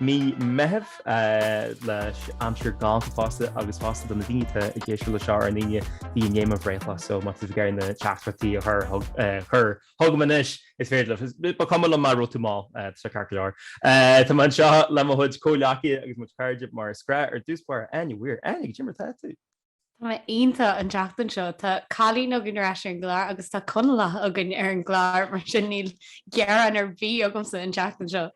Mí Meithimh leis aimsir ghalánta fosta agus fosta do na daoine atá ag éisteacht le seo ar an Aoine bhí inné mo bhreithlá so má tá tú ag iarraidh na teachtaireachtaí a chur chur chugam anois is féidir leat ba chuma liom má raibh tú mall tá sé ceart go leor. Tá mé anseo le mo chuid comhghleacaithe agus mo chuid cairde mar is gnách ar dtús báire Áine Weir Áine cad é mar atá tú? Tá mé iontach an tseachtain seo. Tá cailín againn ar ais ar an gclár agus tá Conallach againn ar an gclár mar sin níl gearán ar bith agamsa an tseachtain seo.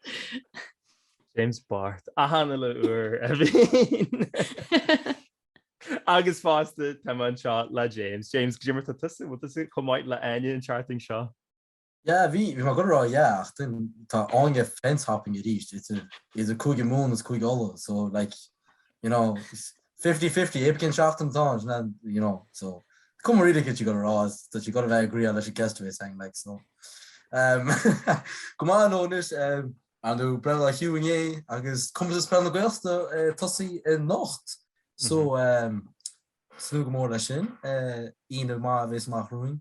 James bocht, achan uile uair a bhíonn. Agus fosta tá mé anseo le James. James, cad é mar tá tusa, bhfuil tusa chomh maith le Áine an tseachtain seo? Yeah, bhí, bhí mé ag goil a rá yeah, ach duinn, tá Áine ag fence hopping arís, idir, idir Cúige Mumhan is Cúige Uladh, so like, you know, is fifty fifty, cibé cén seachtain atá ann, sin é an, you know, so, cuma really céard tá sí ag goil a rá, is tá sí ag goil a bheith ag agreeáil leis an guest a bhéas againn, like, so, um, go maith nó anois, um, I know Brennan Ó Hugh inné agus Comórtas Peile na Gaeltachta eh, tosaí anocht, so, um, ag tnúth go mór leis sin, eh, Aoine maith a bhéas amach romhainn,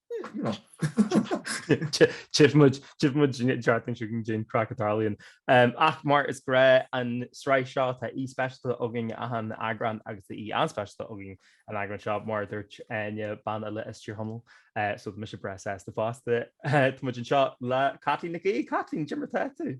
Tífidh muid an tseachtain seo chugainn cad é an craic a tharlaíonn. Ach mar is gnách an sraith seo tá aoi speisialta againn achan eagrán agus tá aoi an-speisialta againn an eagrán seo mar a dúirt Áine bean eile as Tír Chonaill so tá mise breá sásta fosta. Tá muid anseo le Caitlín Nic Aoidh. Caitlín, cad é mar tá tú.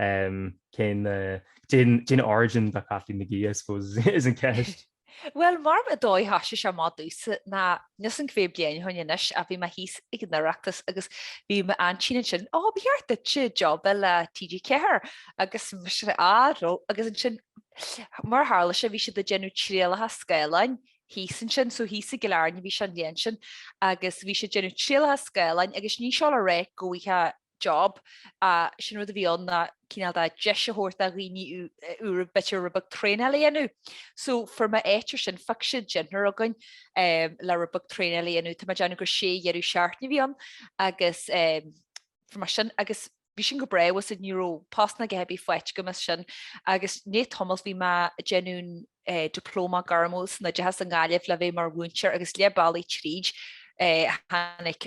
Cén Cén origin do Chaitlín Nic Aoidh, I suppose, is an ceist. Bhuel, mar an dóigh a thoisigh sé amach domhsa ná níl a fhios agam cé mhéad bliain ó shin anois ach bhí mé thíos ag an Oireachtas agus bhí m'aintín ansin, Á, ba cheart duitse job a fháil le TG4! Agus mise, Á ró! Agus ansin, mar a tharla sé, bhí siad ag déanamh trialacha Scáileáin thíos ansin, so thíos i gCill Airne a bhí sé an bhliain sin, agus bhí siad ag déanamh trialacha Scáileáin agus ní sin le rá go bhfaighfeá job. Sé an rud a bhí ann ná cineál de deis a thabhairt do dhaoine úra b'fhéidir rud beag traenáil a dhéanamh. So fuair mé áit air sin phioc siad deichniúr againn le rud beag traenáil a dhéanamh. Tá mé ag déanamh gur sé dheireadh seachtaine a bhí ann agus fuair mé sin agus bhí sin go breá tá's agat ní raibh post ná cibé faighte agam as sin agus i ndiaidh tamaill bhí mé ag déanamh Diplóma Gairmiúil san Oideachas i nGaillimh le bheith mar mhúinteoir agus leath bealaigh tríd tháinig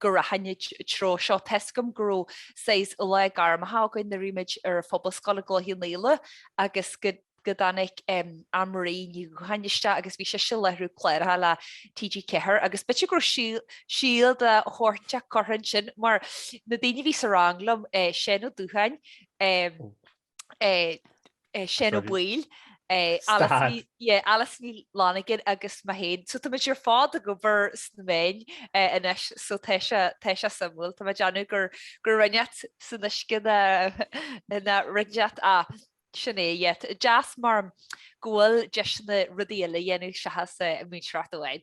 go rachainn i dtreo seo tá a fhios agam go raibh saghas lá gairmeacha againn nuair a bhí muid ar an phobalscoil i gCloich Cheann Fhaola agus go dtáinig Anne Marie Ní Dhubhcháin isteach agus bhí sise ag láithriú cláracha le TG4 agus b'fhéidir go raibh síol de shórt inteacht curtha ansin mar na daoine a bhí sa rang liom, Séan Ó Dubhcháin, Seán Ó Baoill, Alice Ní Fhlannagáin agus mé féin. So tá muid ar fad ag obair sna meáin anois so tá sé suimiúil. Tá mé ag déanamh gur rud inteacht san uisce nó nó rud inteacht, sin é. Deas mar go bhfuil deiseanna rudaí eile a dhéanamh seachas múinteoireacht amháin.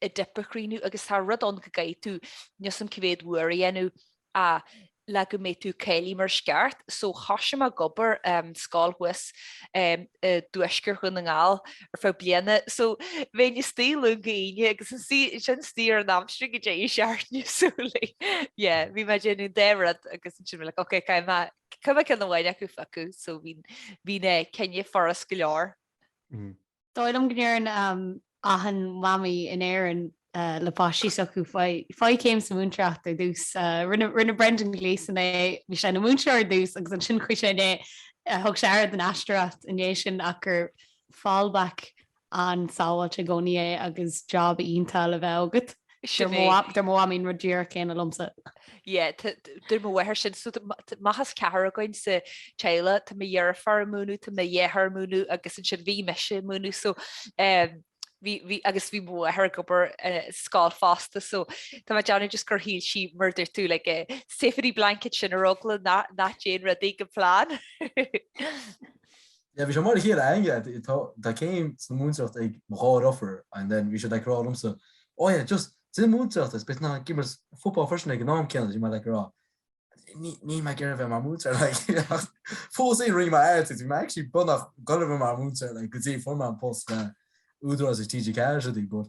an dip a chríochnú agus tá rud ann go gcaithfidh tú, níl a fhios agam cá mhéad uair a dhéanamh, a, le go mbeidh tú cáilithe mar is ceart. So thoisigh mé ag obair i scoil thuas i dtuaisceart Dhún na nGall ar feadh bliana. So bheinn istigh Luan go hAoine agus ansin istigh ar an aimsir ag an deireadh seachtaine, so. Yeah, bhí mé ag déanamh an dá rud agus ansin bhí like ok caithfidh mé, caithfidh mé ceann amháin acu a phiocadh. So bhí sé ina chinneadh furast go leor. dóigh liom go ndeireann achan mamaí in Éirinn le páistí s'acu, Faigh céim sa mhúinteoireacht ar dtús. Rinne Brendan Gleeson é, bhí sé ina mhúinteoir ar dtús agus ansin chuaigh sé i ndiaidh, thug sé aire don aisteoireacht i ndiaidh sin ach gur fallback an-sábháilte i gcónaí é agus job iontach le bheith agat. Deir mo mham an rud díreach céanna liomsa. Yeah, deir mo mháthair sin. So amach as ceathrar againn sa teaghlach, tá mo dheirfiúr ag múineadh, tá mo dheartháir ag múineadh agus ansin bhí mise ag múineadh. So agus bhí mo mháthair ag obair i scoil fosta. So tá mé ag déanamh just gur shíl sí, mar a dúirt tú, like a safety blanket sin ar eagla nach dtéann rudaí go plan. Yeah, bhí sé mar a chéile againne, yeah, it, tá, tá céim sa múinteoireacht ag mo dheirfiúr, and then bhí siad like ag rá liomsa, oh yeah, just déan múinteoireacht is, beidh tú in ann imirt football freisin ag an am céanna, bhí mé like ag rá, níl, níl mé ag iarraidh bheith mar múinteoir, like, ach fós rinne mé iarracht, bhí mé actually beagnach ag iarraidh bheith mar múinteoir, like, go dtí fuair mé an post le Údarás ag TG4 is rudaí, but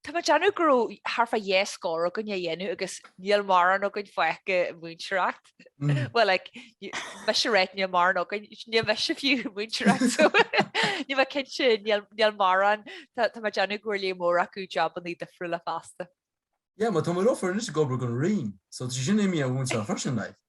Tá mé ag déanamh go raibh thart fá dhá scór againn á dhéanamh agus níl mórán againn fágtha ag múinteoireacht. Bhuel like mise ag ráit níl mórán againn níl mise fiú ag múinteoireacht. Níl mé cinnte, níl mórán Tá mé ag déanamh go bhfuair lear mór acu jobannaí difriúla fosta. Yeah, mar tá mo dheirfiúr anois ag obair don Roinn, so tá sí sin imithe ó mhúinteoireacht freisin, like.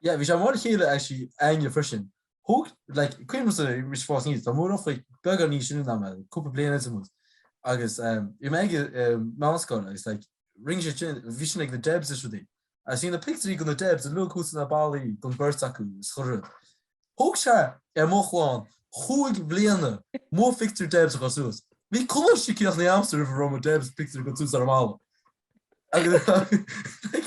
Yeah bhí sé mar a chéile actually againne freisin. Thug like cuimhin liomsa arís ag fás aníos tá mo dheirfiúracha beagán níos sine ná mé cúpla bliain eile amuigh agus um, bhí mé ag um, meánscoil agus like rinne siadsan, bhí siadsan ag na Debs is rudaí agus bhí na pictiúirí de na Debs a luadh thuas ar na ballaí don beirt acu is chuile rud. Thóg sé ar mo chlann chúig bliana mo phictiúr Debs a chur suas. Bhí coláiste críochnaithe agamsa roimh a raibh mo Debs pictiúr curtha suas ar an mballa. Agus like,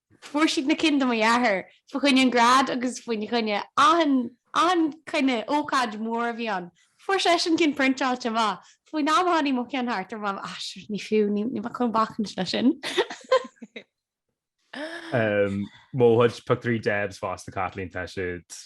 Fuair siad na cinn do mo dheartháir fá choinne an grad agus faoi choinne achan, achan cineál, ócáid mhór a bhí ann. Fuair seisean cinn priontáilte amach. Faoin am a tháinig mo cheann thart, dúirt mam, ah, sure, ní fiú, ní, níl mé chun bacaint le sin. Mo chuid pictiúirí Debs fosta Caitlín tá siad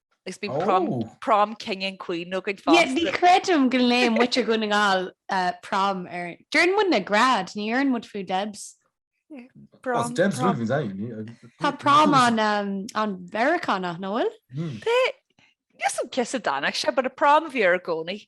Is bí prom king and queen nó go fá. Ní chreidim go lé muid a gúna ngáil prom air. Deireann muid na grad, ní deireann muid fiú Debs. Tá prom an-Mheiriceánach nach bhfuil? Níl a fhios agam cá has a dtáinig sé, but prom a bhí air i gcónaí.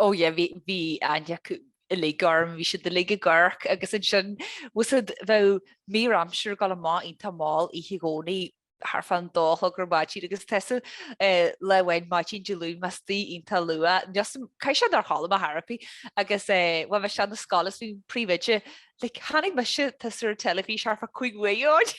Ó yeah, bhí, bhí aithne acu uilig orm, bhí siad uilig ag amharc agus ansin, tá a fhios agat, bheadh mír aimsire ag dul amach iontach mall oíche i gcónaí, thart fán dó a chlog ar maidin agus tusa lá amháin maidin Dé Luain mé istigh iontach luath, just, caithfidh sé nár chodlaigh mé ar chor ar bith agus eh, bhuel bheadh sé ana scoil is bhí príomhoide, like, chonaic mise tusa ar an teilifís thart fá cúig uair ó shin.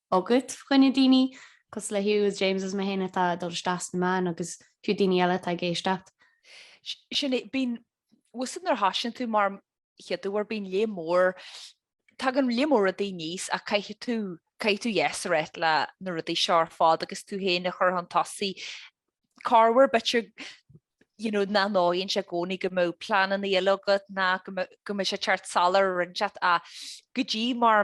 agat choinne daoine cosúil le Hugh is James is mé féin atá ag dul isteach sna meáin agus fiú daoine eile atá ag éisteacht. Sin é, bíonn tá a fhios agat nuair a thosaíonn tú amach a chéaduair bíonn lear mór, tagann lear mór rudaí aníos ach caithfidh tú, caithfidh tú yes a ráit leis na rudaí seo ar fad agus tú féin a chur chun tosaigh. Corruair b'fhéidir you know nach bhfóireann sé i gcónaí go mbeadh pleananna eile agat nó go mbeadh sé ag teacht salach ar rud inteacht ach go dtí mar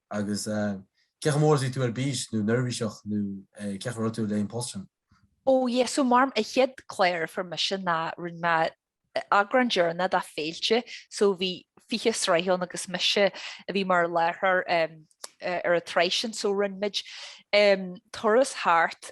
Agus cé chomh mór is a bhí tú ar bís nó neirbhíseach nó cé chomh raibh tú leis an post sin? Ó yes, so mar an chéad chlár a fuair mise ná rinne mé eagrán deireanach de Féilte, so bhí fiche sraith ann agus mise a bhí mar láithreoir ar an tsraith sin, so rinne muid turas thart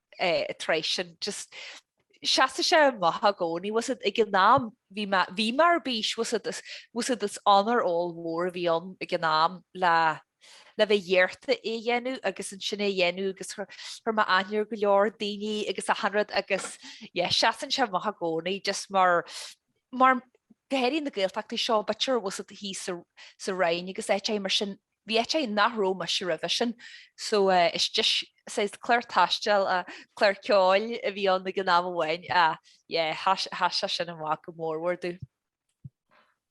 an tsraith sin, just seasann sé amach i gcónaí, tá a fhios agat ag an am, bhí mé, bhí mé ar bís, tá a fhios agat is, tá a fhios agat is onóir ollmhór a bhí ann ag an am le, le bheith iarrtha é a dhéanamh agus ansin é a dhéanamh agus chuir, chuir mé aithne ar go leor daoine agus achan rud agus, yeah, seasann sé amach i gcónaí, just mar, mar, go háirithe na Gaeltachtaí seo, b'fhéidir tá a fhios agat thíos sa Rinn agus áiteacha mar sin, Bhí áiteacha nach raibh mise roimhe sin so it's just, saghas clár taistil, clár ceoil a bhí ann ag an am amháin ach yeah, sheas sé sin amach go mór mór domh.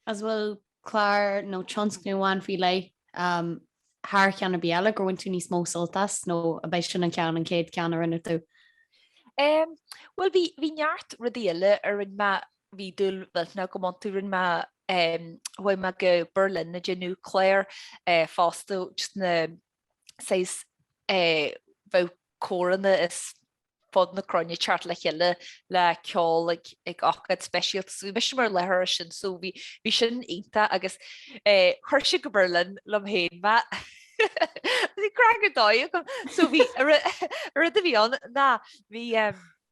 Is an bhfuil clár nó tionscnamh amháin faoi leith um thar cheann ar bith eile gur bhain tú níos mó sult as nó ab é sin an ceann an chéad ceann a rinne tú? Um, well bhí bhí neart rudaí eile a rinne mé Bhí dúil mhillteanach agam iontu. Rinne mé, chuaigh mé go Berlin ag déanamh clár fosta, just na saghas, bheadh córanna as fud na cruinne ag teacht le chéile le ceol ag ócáid speisialta, so bhí mise mar láithreoir ar sin, so bhí sin iontach agus chuir siad go Berlin liom féin mé, bhí craic ar dóigh agam, so bhí, an rud a bhí ann ná bhí,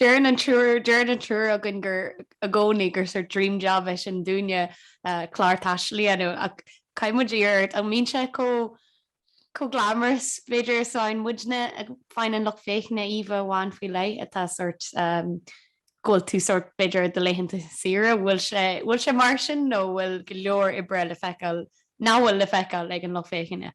Deireann an triúr Deireann an triúr againn gur i gcónaí gur sórt dream job é sin dúinne clár taistil a dhéanamh ach caithfidh muid iarraidh ort. An mbíonn sé chomh glamorous b'fhéidir is a fhaigheann muidne? Faigheann an lucht féachana íomha amháin faoi leith atá sórt go bhfuil tú sórt b'fhéidir ar do laethanta saoire, bhfuil sé bhfuil sé mar sin nó bhfuil go leor oibre le feiceáil nach bhfuil le feiceáil ag an lucht féachana?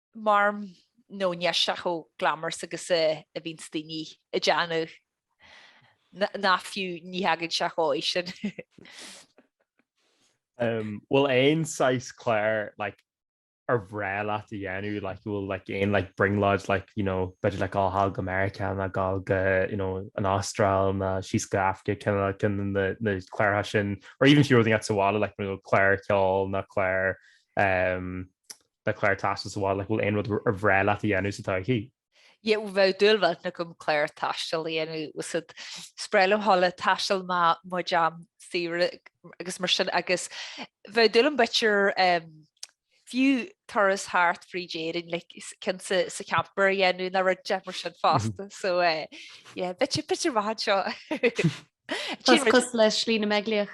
marm nó níl sé chomh glamorous agus a bhíonns daoine ag déanamh nó fiú ní thagann sé dhóigh sin. bhfuil aon saghas cláir like ar bhreá leat a dhéanamh like bhfuil like aon like brionglóid like you know b'fhéidir like dul thall go Meiriceá nó gabháil go you know an Astráil nó síos go Afraic kinda like na na cláracha sin or even fiú rud inteacht sa bhaile like you know cláir ceoil nó cláir um like cláir taistil sa bhaile, an bhfuil aon rud ar bhreá leat a dhéanamh sa todhchaí. Yeah, bheadh dúil mhillteanach agam cláir taistil a dhéanamh bhfuil a fhios agat, is breá liom dul ag taisteal i mo chuid am saoire agus mar sin agus bheadh dúil agam b'fhéidir fiú turas thart fríd Éirinn like ceann sa sa camper a dhéanamh nó rudaí mar sin fosta so yeah, b'fhéidir b'fhéidir amach anseo. Cos cosúil le Slí na mBeaglaoich.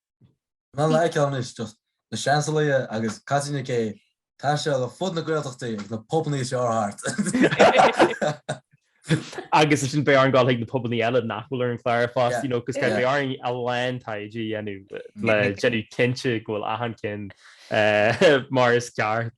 Ná like ceann anois do Na Seansálaithe agus Caitlín Nic Aoidh ag taisteal ar fud na Gaeltachtaí ag na pubannaí is fearr thart. Agus ansin beidh orainn gabháil chuig na pubannaí eile nach bhfuil ar an gclár fós, you know, cos Yeah. beidh orainn a lán taighde a dhéanamh le déanamh cinnte go bhfuil achan ceann mar is ceart.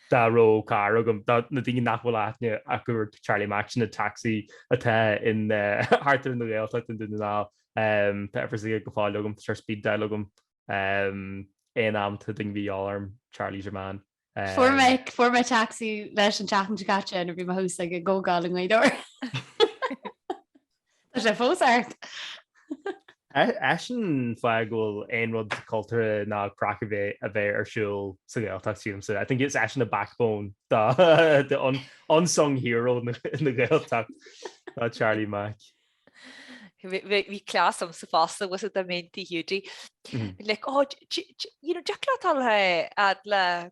Dá raibh carr agam, do na daoine nach bhfuil aithne acu ar Charlie Mac sin, an tacsaí a théann thart ar an nGaeltacht i nDún na nGall, tá uimhir s'aige go fóill agam, tá sé ar speed dial agam aon am atá duine a dhíobháil orm, Charlie's your man. Fuair mé, fuair mé tacsaí leis an tseachtain seo caite nuair bhí mé thuas ag an gcomhdháil i nGaoth Dobhair. Tá sé fós ort. Eisean an fáth go bhfuil aon rud cultúrtha ná craic ar bith ar siúl sa Ghaeltacht sílimse. I think it's eisean the backbone the unsung hero na Gaeltacht ná Charlie Mac. Bhí cleas am sa fosta was it the main thing you do. Like, oh, you know, Jack Latal le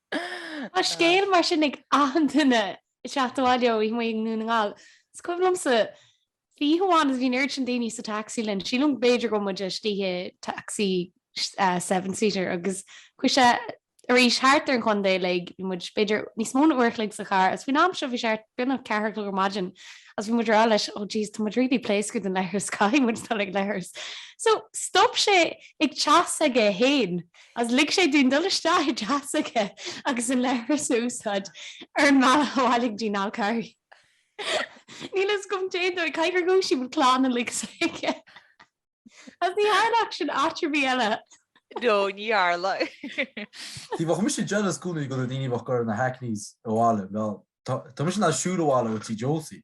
Tá scéal mar sin ag achan duine is é ag teacht abhaile ó oíche amuigh i nDún na nGall. Is cuimhin liomsa oíche amháin agus bhí an oiread sin daoine sa tacsaí linn, sílim go b'fhéidir go raibh muid istigh i tacsaí seven seater agus chuaigh sé arís thart ar an chontae uilig. Bhí muid b'fhéidir níos mó ná uair a chloig sa charr agus faoin am seo bhí sé thart b'ionann an ceathair a chlog ar maidin agus bhí muid ag rá leis oh jeez tá muid really pléasctha don leithreas caithfidh muid dul chuig an leithreas. So stop sé ag teach s'aige fhéin. Agus lig sé dúinn dul isteach i dteach s'aige agus an leithreas a úsáid ar an mbealach abhaile go dtí an Fhál Carraigh. Níl fhios agam caidé an dóigh, caithfidh gur dhúisigh muid an clann uilig s'aige. Agus ní tharlódh sin áit ar bith eile. No, ní tharla. Bhí mise jealous i gcónaí de na daoine a bheadh ag dul ar na hackneys abhaile, bhuel. Tá mise ag siúl abhaile ó tigh Josie.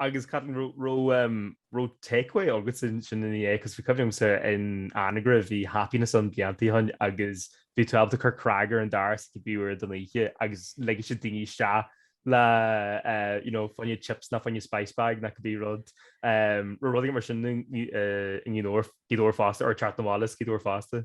Agus cá háit a raibh take-away agat ansin ina dhiaidh? Cos bhí cuimhne agam-sa in Anagaire bhí happiness ann bliantaí ó shin agus bhí tú ábalta cur cnag ar an doras cibé uair den oíche agus ligfeadh siad daoine isteach le you know fá choinne chips nó fá choinne spice bag nó cibé rud. Raibh rudaí mar sin i nGaoth Dobhair fosta or Teach na Mall is Gaoth Dobhair fosta?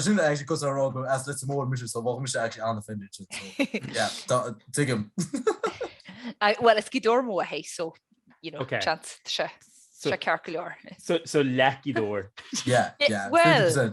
sin ag go ará go as le mór mis so bh se ag anna fin tuigim. Well is cí dúir mó a hé so se cear go leor. So lecí dúir? Well.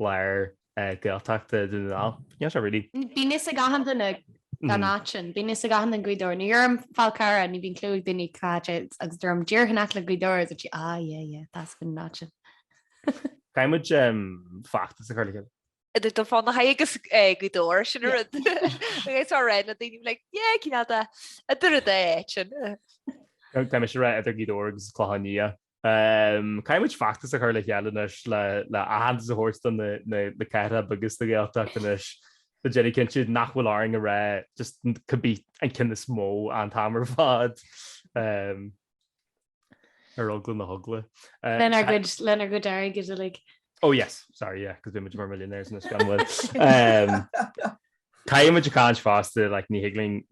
lár Gaeltachta Dhún na nGall. Níl sé really. Bíonn fhios ag achan duine an áit sin. Bíonn fhios ag achan duine Gaoth Dobhair. Nuair a deirim Fál Carrach, ní bhíonn clue ag daoine cá háit é agus deirim díreach in aice le Gaoth Dobhair agus duit ah yeah yeah tá sin an áit sin. Caithfidh muid feachtas a chur le chéile. Idir Dún Fionnachaidh agus Gaoth Dobhair, sin an rud. Agus á rá le daoine like yeah cín fhada, idir an dá áit sin. Tá mise a rá idir Gaoth Dobhair agus Clochán Liath. Caithfidh muid feachtas a chur le chéile anois le aitheantas a thabhairt do na ceantair bheaga seo den Ghaeltacht anois le déanamh cinnte nach bhfuil orainn a rá just cibé an ceann is mó an t-am ar fad ar eagla na heagla. Lenár gcuid, lenár gcuid airgid uilig. Oh yes, sorry, yeah, cos beidh muid mar millionaires anois gan mhoill. Caithfidh muid caint fosta, like, ní thig linn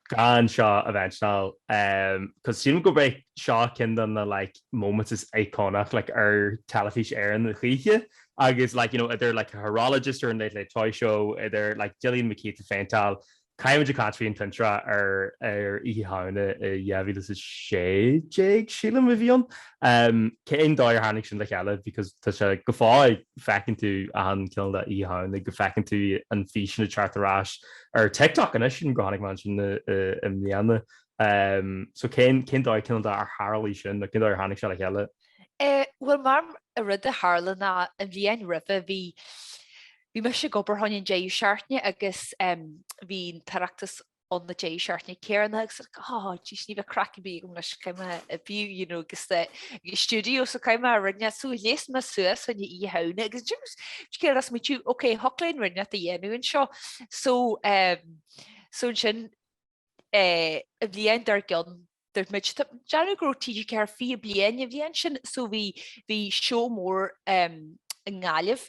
gan seo a mhentionáil, cos sílim gurb é seo ceann de na, like, moments is iconic, like, ar Teilifís Éireann a choíche agus, like, you know, idir, like, an horologist ar an Late Late Toy Show, idir, like, Gillian McKeith ag faintáil, caithfidh muid caint faoin tintreach ar Oíche Shamhna 2016, sílim, a bhí ann. Cén dóigh ar tháinig sin le chéile because tá sé go fóill feiceann tú achan chineál de Oíche Shamhna go bhfeiceann tú an físeán ag teacht ar ais ar TikTok anois sílim go tháinig mé ansin i mbliana so cén cén dóigh cineál de ar tharlaigh sin nó cén dóigh ar tháinig sé le chéile? Bhuel mar an rud a tharla ná an bhliain roimhe bhí bhí mise ag obair thar an deireadh seachtaine agus bhí an tOireachtas an na deisceart ní céanna agus áis ní bheith craic a bhí agam leis céime a bhí you know agus the studio sa céime a rinne so las mé suas an Oíche Shamhna agus James céad as muitiú ok thig linn rud a dhéanamh anseo so um, so an sin eh, an bhliain dár gcionn tá mé ag déanamh go raibh TG4 fiche bliain an bhliain sin so bhí bhí seó mór um, i nGaillimh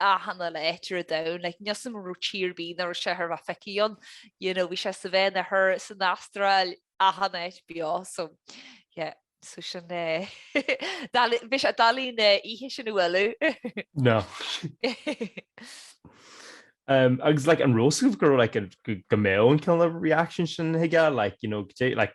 achan áit ar domhan, like ní shílim go raibh tír ar bith nach raibh sé tar éis a bheith feicthe ann, you know, bhí sé sa Vítneam thall san Astráil achan áit beo, so yeah, so sin é bhí sé doiligh an oíche sin a bhualadh. No. Umm agus like an raibh a fhios agaibh go raibh like go mbeadh an cineál reaction sin chuige like, you know, go dté like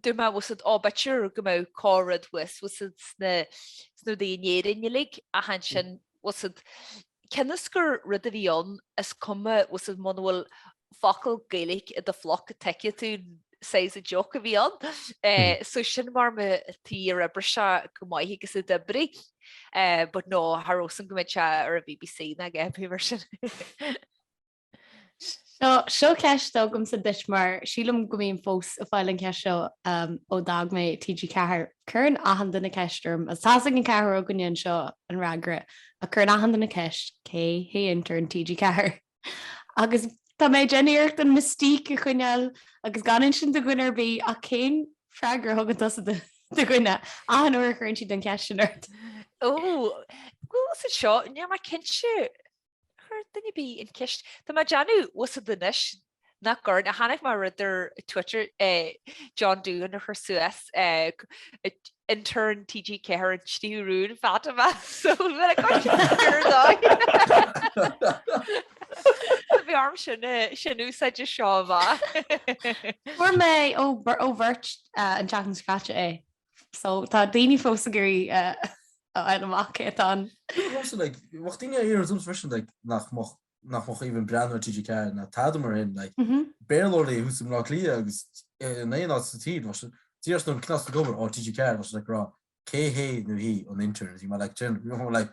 Dúirt mé was it ábáitir go mbeadh cá rud was was it sna rudaí in Éirinn uilig ach ansin was it cén fhios gur rud a bhí ann is cuma was it muna bhfuil focal Gaeilge i do phluc tuigfidh tú size a joke a bhí ann. So sin mar mo thí ar oibre seo go maith agus a d'oibrigh but no thar os an go mbead sé ar an BBC ná gceapfaí mar sin. Seo seo ceist agamsa duit mar sílim go mbím fós ag fáil an cheist seo um, ó d'fhág mé TG4. Cuireann achan duine an cheist orm is tá a fhios ag an cheathrar againne anseo an freagra ach cuireann achan duine an cheist cé hé intern TG4? Agus tá mé ag déanamh iarracht an mystique a choinneáil agus gan insint do dhuine ar bith ach cén freagra a thugann tusa do do dhuine achan uair a chuireann siad an cheist sin ort? Ó, bhfuil a fhios agat seo, níl mé cinnte Chuir duine ar bith an cheist, tá mé ag déanamh bhfuil a fhios agat anois nach gcuireann, a tháinig amach rud ar Twitter John Doohan a chuir suas intern TG4 an tríú rún Fatima so bhfuil ag gabháil siad an fior dóigh. Bhí orm sin a úsáid seo bha. Fuair mé ó bheirt an teachn scráite é So tá daoine fós ag iarraidh a fháil amach cé atá ann. Bheadh daoine ag iarraidh ormsa freisin nach mbeadh nach mbeadh even ag breathnú ar TG4 ná tada mar sin like Béarlóirí thuas i mBleá Cliath agus in aon áit sa tír bheadh siad díreach sin an cniost ag obair, ó TG4 bheadh siad ag rá cé hé nó hí an intern is í mar like do you know like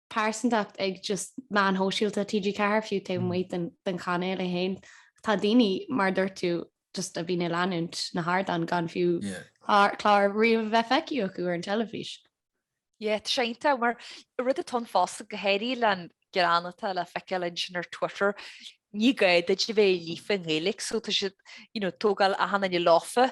pearsantacht ag just meáin shóisialta TG4 fiú taobh amuigh den chainéal é féin. Tá daoine, mar a dúirt tú, just a bhíonn ag leanúint na hardán gan fiú clár riamh a bheith feicthe acu ar an teilifís. Yeah, tá sé iontach mar rud an tón fosta go háirithe leis an ghreann atá le feiceáil ansin ar Twitter, ní gá duit a bheith líofa i nGaeilge so tá siad, you know, ag tógáil achan duine leofa.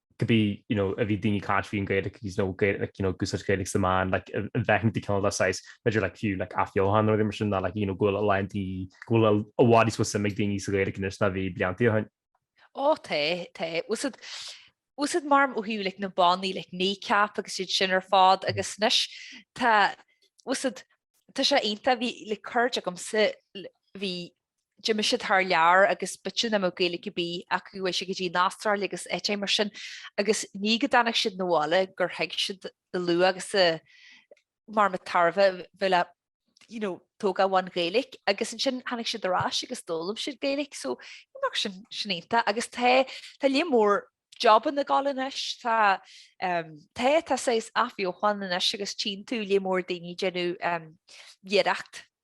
could be, you know, a bhí daoine ag caint faoin Ghaeilic agus, you know, Gae- like, you know, ag úsáid Gaeilic sna meáin, like, an bhfeiceann tú cineál saghas, b'fhéidir, like, fiú, like, athbheochan nó rudaí mar sin ná, like, you know, go bhfuil a lán daoine, go bhfuil a- i bhfad níos mó suim ag daoine sa Ghaeilic anois ná a bhí blianta ó shin. Ó, tá, tá. Bhfuil a fhios agat, bhfuil a fhios agat, maram ó thaobh, like, na mbannaí, like, Kneecap agus iad sin ar fad agus anois tá, bhfuil a fhios agat, tá sé iontach, bhí, like, cairde agamsa, l- bhí d'imigh siad thar lear agus b'shin a mbeadh Gaeilge ar bith acu chuaigh siad go dtí an Astráil agus áite mar sin agus ní go dtáinig siad na bhaile gur thuig siad an luach agus an, maram, an tairbhe bhfuil a you know tóga bhain Gaeilic agus ansin tháinig siad ar ais agus d'fhoghlaim siad Gaeilic so mar sin sin iontach agus tá, tá lear mór jabanna Gaeilge anois, tá, tá, tá sé athbheochan anois agus tchí tú lear mór daoine ag déanamh iarracht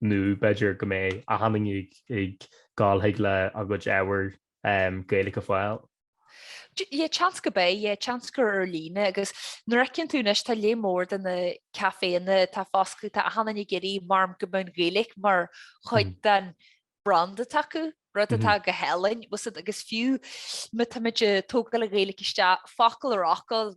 nó b'fhéidir go mbeidh achan duine ag gol chuig le a gcuid ábhar Gaeilge a fháil. Yeah, seans go mbeidh, yeah, seans gur ar líne, agus nuair a fheiceann tú anois tá lear mór de na caiféanna atá fosclaithe, tá achan duine ag iarraidh, maram, go mbeadh an Ghaeilge mar chuid den brand acu, rud atá go hálainn, bhfuil a fhios agat, agus fiú má táimid ag tógáil an Ghaeilge isteach, focal ar fhocal,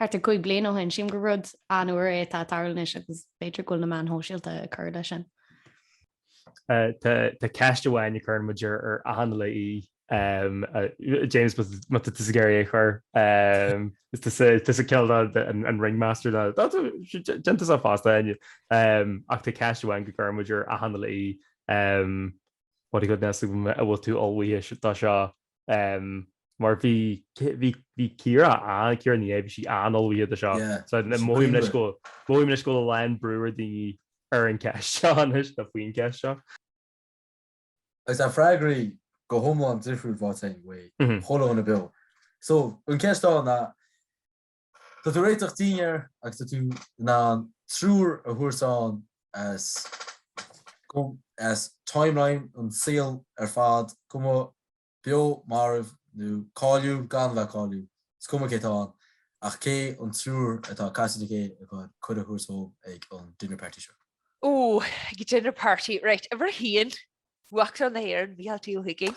Thart ar chúig bliain ó shin, sílim gur rud an-úr é atá ag tarlú anois agus b'fhéidir go bhfuil na meáin shóisialta ag cur leis sin. Tá ceist amháin a chuireann muid ar achan aoi, James, an bhfuil tusa ag iarraidh é a chur. Tusa cineál de an ringmaster dá. Déan tusa fosta fhoinn. Ach tá ceist amháin a chuireann muid ar achan aoi, what a goodness, an bhfuil tú ullmhaithe dó seo mar bhí Ciara an, Ciara Ní É, bhí sí an-ullmhaithe dó seo. So mothaím leis go, mothaím leis go bhfuil a lán brú ar daoine ar an gceist seo anois, nó faoin gceist seo. Agus tá freagraí go hiomlán difriúil faighte againn uaidh chuile dhuine beo. So an ceist ann ná, Tá tú ag réiteach dinnéar agus tá tú in ann triúr a thabhairt ann as as timeline an tsaoil ar fad, cuma beo, marbh nó cáiliúil, gan a bheith cáiliúil, is cuma cé atá ann, ach cé an triúr atá caite de cé a bhfuil tú chun cuireadh a thabhairt dóibh ag an dinner party seo? Ooh, ag an dinner party, right, uimhir a haon, Uachtarán na hÉireann, Micheál D. Ó hUiginn.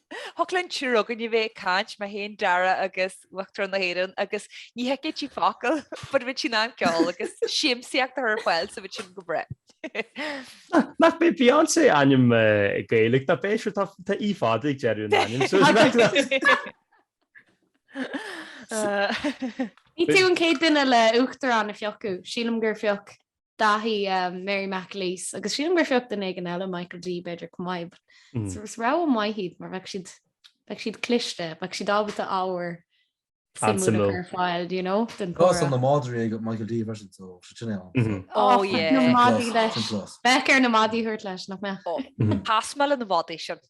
Thiocfadh linn triúr againn a bheith ag caint, mé féin, Dara agus Uachtarán na hÉireann, agus ní thuigfeadh sí focal, but bheadh sí in ann ceol agus siamsaíocht a chur ar fáil so bheadh sin go breá. Nach b'é Beyoncé ainm Gaeilge nach b'é, sure tá e fada ag deireadh an ainm so Ní tú an chéad duine le Uachtarán a phiocadh, sílim gur phioc Daithí, Mary McAleese, agus sílim gur phioc duine éigin eile, Michael D. b'fhéidir, chomh maith. Is rogha mhaith iad mar bheadh siad, bheadh siad cliste, bheadh siad ábalta ábhar suimiúil a chur ar fáil, do you know, don chomhrá. Agus tá na madraí ag Michael D. freisin, so sin é an. Ó yeah. Bheadh na madaí leis. Bheadh air na madaí a thabhairt leis, nach mbeadh? Is maith liom na madaí sin.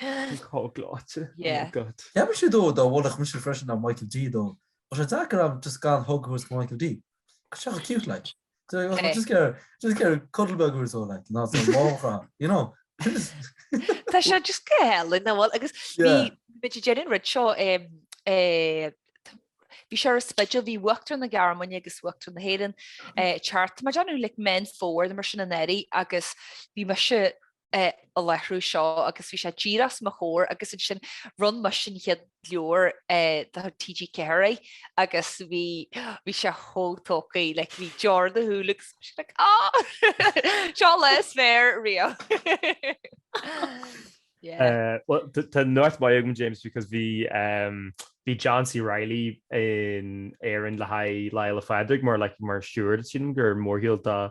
Bhí siad gleoite. Yeah. Oh God. Ceapaim siad dó dá mholfadh mise freisin ná Michael D dó. Ach tá sé deacair agam just gan hug a thabhairt do Michael D. Tá sé chomh cute like. Do you know, Hey. just get a, just get a cuddle beag or so like, ná so lámhach ann, you know. Sin is, Tá sé just go hálainn nach bhfuil agus yeah. bhí muid ag déanamh rud seo em, eh, t- bhí sé ar an Spidéal bhí Uachtarán na Gearmáine agus Uachtarán na hÉireann eh, thart mar I dunno like Meán Fómhair mar sin anuraidh agus bhí mise ag láithriú seo agus bhí sé díreach os mo chomhair agus ansin bhronn muid an chéad leabhar de TG4 air agus bhí bhí sé chomh tógtha like bhí deora ina shúile agus bhí sé like ah! seo an lá is fearr riamh. yeah. Uh, well, tá nuacht mhaith agam James because bhí um, bhí John C. Reilly in Éirinn le haghaidh Lá Fhéile Pádraig mar like, mar steward sílim don mhórshiúl dá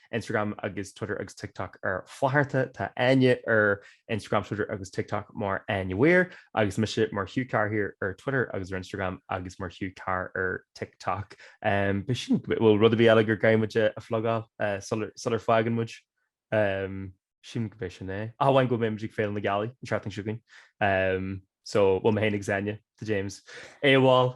Instagram agus Twitter agus TikTok ar Flatharta. Tá Áine ar Instagram, Twitter agus TikTok mar Áine Weir agus mise mar Hugh Carr here ar Twitter agus ar Instagram agus mar Hugh Carr ar TikTok. Um, Bhuel sílim go- bhfuil rud ar bith eile gur gá muide a a phlugáil eh, sular sular fágann muid. Um, Sílim gurb shin é. Ach amháin go mbeidh muid ag Féile na Gealaí an tseachtain seo chugainn. Um, So, bhuel mé féin agus Áine, tá James AWOL.